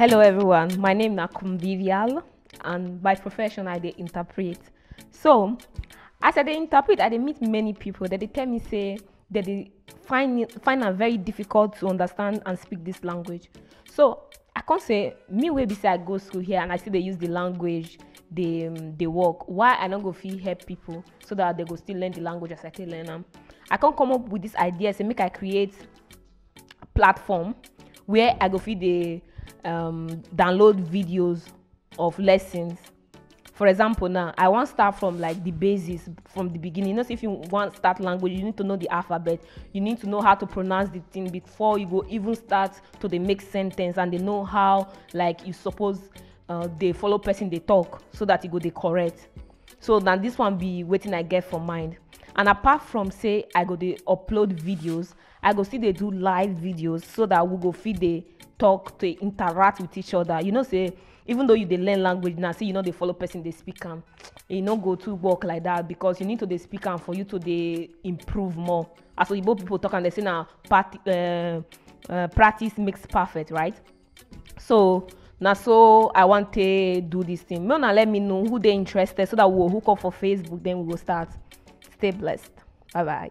Hello everyone, my name na Kumbivial and by profession I dey interpret. So as I dey interpret, I dey meet many people that dey tell me say that they find it, find am very difficult to understand and speak this language. So i come say me wey be say i go school here and i still dey use the language dey um, dey work why i no go fit help people so that they go still learn the language as i take learn am i come come up with this idea say make i create platform where i go fit dey um, download videos of lessons for example now i wan start from like the basics from the beginning you know say if you wan start language you need to know the alphabet you need to know how to pronounce the thing before you go even start to dey make sentence and dey know how like you suppose uh, dey follow person dey talk so that e go dey correct so na this one be wetin i get for mind and apart from say i go dey upload videos i go still dey do live videos so that we go fit dey talk to interact with each other you know say even though you dey learn language now say you no dey follow person dey speak am e no go too work like that because you need to dey speak am for you to dey improve more as oyibo people talk am dey say na part, uh, uh, practice makes perfect right so na so i wan take do this thing make una let me know who dey interested so that we go hook up for facebook then we go start stay blessed bye bye.